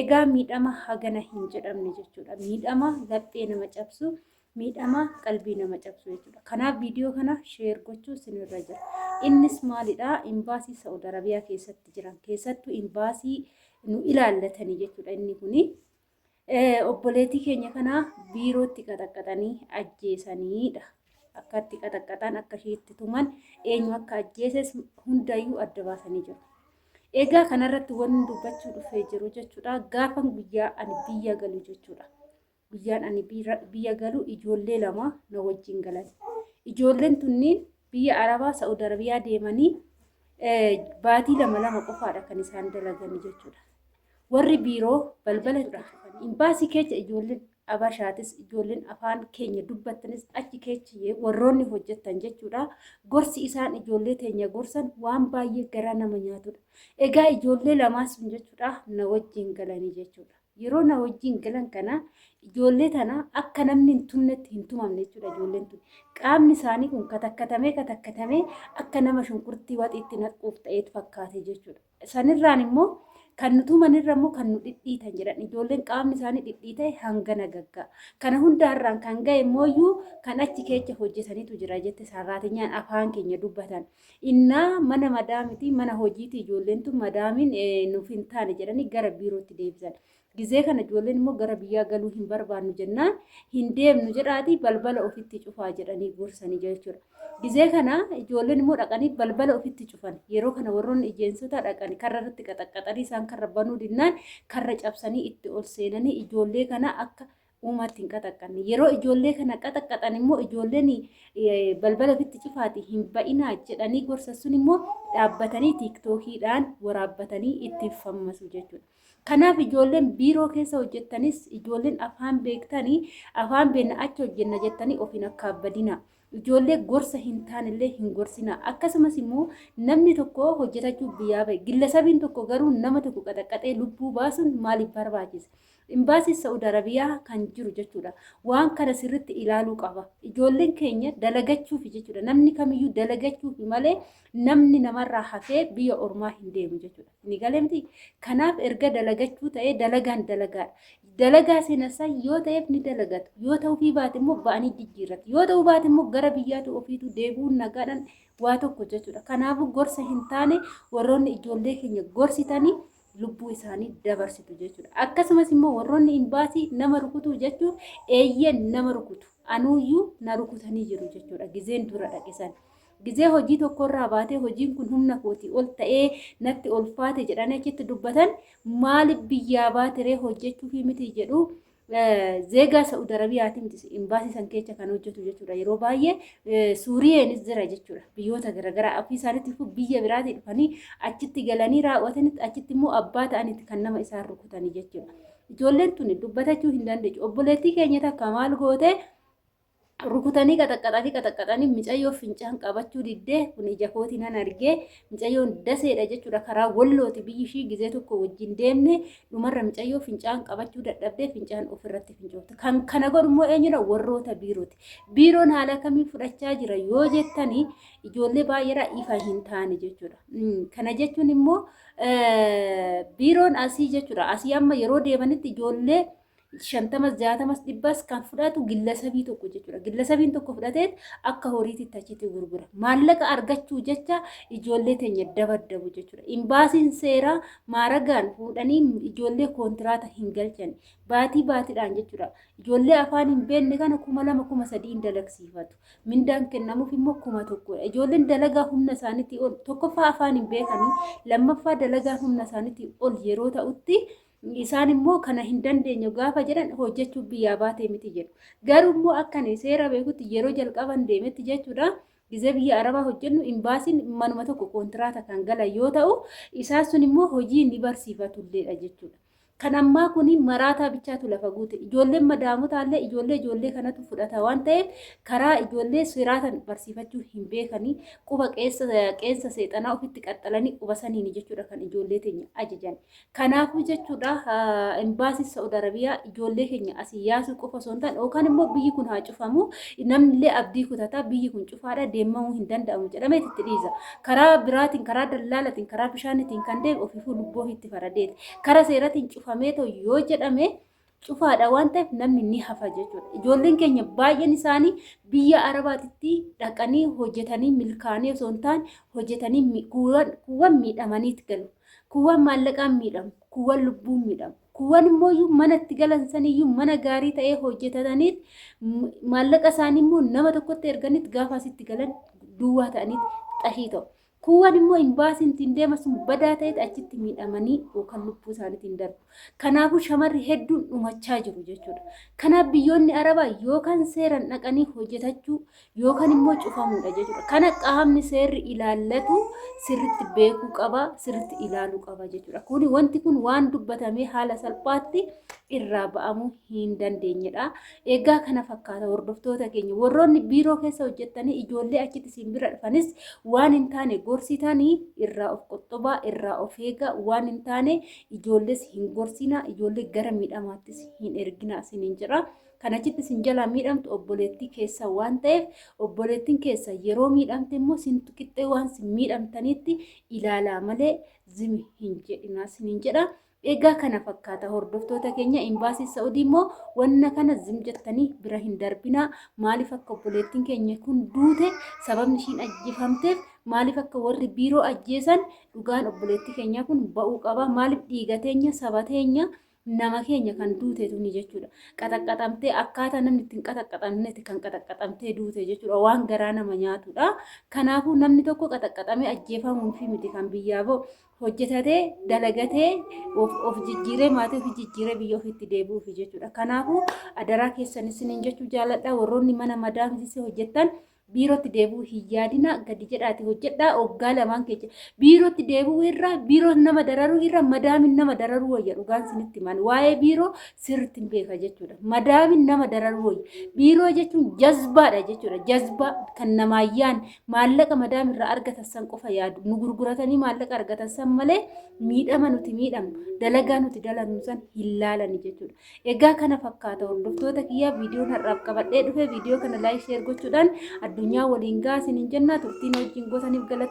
Egaa miidhama hagana hin jedhamne jechuudha. Miidhama laphee nama cabsu, miidhama qalbii nama cabsu jechuudha. Kanaaf viidiyoo kana sheer gochuu sinirra jira. Innis maalidha? Imbaasii Sa'ud Arabiyaa keessatti jiran keessattuu imbaasii nu ilaallatanii jechuudha inni kuni. Obboleetii keenya kana biirootti qaxaqqaxanii ajjeesaniidha. Akka itti qaxaqqaxan akka ishiitti tuman eenyu akka ajjeeses hundayyuu adda baasanii jiru. Egaa kanarratti wanni dubbachuu dhufee jiru jechuudha. Gaafan guyyaa ani biyya galu jechuudha. Guyyaan ani biyya galu ijoollee lama na wajjin galan. Ijoolleen tunniin biyya Arabaa Sa'ud Arabiyaa deemanii baatii lama lama qofaadha kan isaan dalaganii jechuudha. Warri biiroo balbala irraa hafan imbaasii keecha ijoolleen Abashaatis ijoolleen afaan keenya dubbattanis achi keecha ye- warroonni hojjettan jechuudha. Gorsi isaan ijoollee teenya gorsan waan baay'ee garaa nama nyaatudha. Egaa ijoollee lamaan sun jechuudha na wajjin galanii jechuudha. Yeroo na wajjin galan kana ijoollee tana akka namni hin tumnetti hin tumamne jechuudha ijoolleen tun. Qaamni isaanii kun katakkatamee katakkatamee akka nama shunkurtii waxiitti naqquuf ta'eet fakkaate jechuudha. Sanirraan immoo kan nu tuman irra immoo kan nu dhidhiitan jedhan ijoolleen qaamni isaanii dhidhiita'e hangana gagga'a. Kana hundaarraan kan ga'e immooyyuu kan achi keecha hojjetanitu jira jette sarraatinyaan afaan keenya dubbatan. Innaa mana madaamitii mana hojiitii ijoolleen tun madaamiin nuuf hin taane jedhanii gara biirootti deebisan. Gizee kana ijoolleen immoo gara biyyaa galuu hin barbaannu jennaan hin deemnu jedhaatii balbala ofitti cufaa jedhanii gorsanii jechuudha. Gizee kana ijoolleen immoo dhaqanii balbala ofitti cufan. Yeroo kana warroonni ijeensotaa dhaqanii karra irratti qaxaqqaxanii isaan karra banuu dinnaan karra cabsanii itti ol seenanii ijoollee kana akka uumaatti hin qaxaqqanne. Yeroo ijoollee kana qaxaqqaxan immoo ijoolleen balbala ofitti cufaati hin ba'inaa jedhanii gorsa sun immoo dhaabbatanii tiiktookiidhaan waraabbatanii itti fammasu jechuudha. Kanaaf ijoolleen biiroo keessa hojjettanis ijoolleen afaan beektanii afaan beekna achi hojjenna jettanii ofiin akka badina. Ijoollee gorsa hin taanillee hin gorsina. Akkasumas immoo namni tokko hojjetachuuf biyyaa ba'e. Gillasabiin tokko garuu nama tokko qaxaqqaxee lubbuu baasuun maaliif barbaachise? Imbaasii Sa'ud Arabiyaa kan jiru jechuudha. Waan kana sirritti ilaaluu qaba. Ijoolleen keenya dalagachuufi jechuudha. Namni kamiyyuu dalagachuufi malee namni namarraa hafee biyya ormaa hin deemu jechuudha. Ni galee miti. Kanaaf erga dalagachuu ta'ee dalagaan dalagaadha. Dalagaa seenasaa yoo ta'eef ni dalagatu. Yoo ta'uufii baate immoo ba'anii jijjiirratu. Yoo ta'uu baate immoo gara biyyaatu ofiitu deebi'uun nagaadhaan waa tokko jechuudha. Kanaafuu gorsa hin taane warroonni ijoollee keenya gorsitanii lubbuu isaanii dabarsitu jechuudha. Akkasumas immoo warroonni imbaasii nama rukutuu jechuun eeyyeen nama rukutu. Anuuyyuu na rukutanii jiru jechuudha. Gizeen dura dhaqisan. Gizee hojii tokkorraa baatee hojiin kun humna kootii ol ta'ee natti ulfaate jedhanii achitti dubbatan maaliif biyyaa baatiree hojjechuufii miti jedhu Zeegaa Sa'ud Arabiyaati miti imbaasii san keessa kan hojjetu jechuudha. Yeroo baay'ee Suuriyeenis jira jechuudha. Biyyoota garaagaraa ofii isaaniitti fuu biyya biraatii dhufanii achitti galanii raawwatanitti achitti immoo abbaa ta'anitti kan nama isaan rukutanii jechuudha. Ijoolleen tuni dubbatachuu hin dandeenye. Obboleettii keenya takka maal gootee rukutanii qaxaqqaxanii qaxaqqaxanii micayyoo fincaan qabachuu diddee kun ija kooti nan argee micayyoon daseedha jechuudha karaa wallooti biyyi ishii gizee tokko wajjin deemne dhumarra micayyoo fincaan qabachuu dadhabdee fincaan ofirratti fincoofte kan kana godhu immoo eenyudha warroota biirooti biiroon haala kamii fudhachaa jira yoo jettanii ijoollee baay'eedha ifa hin taane jechuudha kana jechuun immoo biiroon asii jechuudha asii amma yeroo deemanitti ijoollee shantamas jaatamas dhibbas kan fudhatu gillasabii tokko jechuudha. Gillasabiin tokko fudhatee akka horiitti achitti gurgura. Maallaqa argachuu jecha ijoollee teenya dabaddabu jechuudha. Imbaasiin seeraa maaragaan fuudhanii ijoollee koontiraata hin galchan. Baatii baatiidhaan jechuudha. Ijoollee afaan hin beekne kana kuma lama kuma sadiin dalagsiifatu. Mindaan kennamuuf immoo kuma tokkodha. Ijoolleen dalagaa humna isaaniitii ol tokkoffaa afaan hin beekanii lammaffaa dalagaa humna isaaniitii ol yeroo ta'utti. Isaan immoo kana hin dandeenyu gaafa jedhan hojjechuuf biyyaa baatee miti jedhu. Garuu immoo akka ani seera beekutti yeroo jalqaban deemetti jechuudha. Gizee biyya Arabaa hojjennu imbaasiin manuma tokko koontiraata kan galan yoo ta'u, isaan sun immoo hojii ni barsiifatu illeedha jechuudha. Kan ammaa kun maraataa bichaatu lafa guute. Ijoolleen madaamotaa illee ijoollee ijoollee kanatu fudhata waan ta'eef karaa ijoollee siraatan barsiifachuu hin beekanii quba qeensa seexanaa ofitti qaxxalanii quba saniini jechuudha kan ijoollee teenya ajajan. Kanaafuu jechuudha imbaasiin Sa'ud Arabiyaa ijoollee keenya asii yaasuu qofa osoo hin taane yookaan immoo biyyi kun haa cufamu namnillee abdii kutata biyyi kun cufaadha deemamuu hin danda'amu jedhamee itti dhiisa. Karaa biraatiin karaa dallaalatiin karaa bishaanitiin kan deemu ofiifuu lubbuu ofiitti faradeeti. Karaa seeratiin cufamee ta'u yoo jedhame cufaadha waan ta'eef namni ni hafa jechuudha. Ijoolleen keenya baay'een isaanii biyya Arabaatitti dhaqanii hojjetanii milkaa'anii osoo hin taane hojjetanii mi- kuuwwan kuuwwan miidhamaniit galu. Kuuwwan maallaqaan miidhamu, kuuwwan lubbuun miidhamu. Kuuwwan immoo iyyuu mana itti galan saniyyuu mana gaarii ta'ee hojjetataniit m- maallaqa isaanii immoo nama tokkotti erganiit gaafa asitti galan duwwaa ta'aniit xashii ta'u. Kuuwwan immoo imbaasiin ittiin deema sun badaa ta'etti achitti miidhamanii yookaan lubbuu isaaniitiin darbu. Kanaafuu shamarri hedduun dhumachaa jiru jechuudha. Kanaaf biyyoonni Arabaa yookaan seeran dhaqanii hojjetachuu yookaan immoo cufamuudha jechuudha. Kana qaamni seerri ilaallatu sirritti beekuu qaba, sirritti ilaaluu qaba jechuudha. Kuni wanti kun waan dubbatamee haala salphaatti irraa ba'amuu hin dandeenyedha. Egaa kana fakkaata hordoftoota keenya warroonni biiroo keessa hojjettanii ijoollee achitti isin bira dhufanis waan hin taane gorsitanii irraa of qoxxobaa irraa of eegaa waan hin taane ijoollees hin gorsinaa ijoollee gara miidhamaattis hin erginaa isiniin jedha. Kan achitti isin jalaa miidhamtu obboleettii keessa waan ta'eef obboleettiin keessa yeroo miidhamte immoo sintu qixxee waan sin miidhamtaniitti ilaalaa malee zimi hin jedhinaa isiniin jedha. Egaa kana fakkaata hordoftoota keenya imbaasii Sa'udii immoo wanna kana zim jettanii bira hin darbinaa maaliif akka obboleettiin keenya kun duute sababni ishiin ajjeefamteef maaliif akka warri biiroo ajjeesan dhugaan obboleettii keenyaa kun ba'uu qaba maaliif dhiiga teenya saba teenya nama keenya kan duute tuni jechuudha qaxaqqaxamtee akkaataa namni ittiin qaxaqqaxamnetti kan qaxaqqaxamtee duute jechuudha waan garaa nama nyaatudha kanaafuu namni tokko qaxaqqaxamee ajjeefamuun fi miti kan biyyaa ba'u hojjetatee dalagatee of, of jijjiiree maatii ofii jijjiiree biyya ofiitti deebi'uufi jechuudha. Kanaafuu adaraa keessan isiniin jechuu jaaladha warroonni mana madaamsisee hojjettan biirootti deebi'uu hin yaadina gadi jedhaati hojjedhaa oggaa lamaan keessa biirootti deebi'uu irra biiroo nama dararuu irra madaamin nama dararuu wayya dhugaan isinitti himan waa'ee biiroo sirriitti hin beeka jechuudha. Madaamin nama dararuu wayya biiroo jechuun jazbaadha jechuudha jazbaa kan namaa yaadne Maallaqa madaam irraa argatan san qofa yaadu. Nu gurguratanii maallaqa argatan san malee miidhama nuti miidhamu, dalagaa nuti dalannu san hin laalani jechuudha. Egaa kana fakkaata hordoftoota kiyyaa viidiyoon har'aaf qabadhee dhufe viidiyoo kana laayik sheer gochuudhaan addunyaa waliin gahaa isiniin jennaa turtiin wajjin gootaniif galata.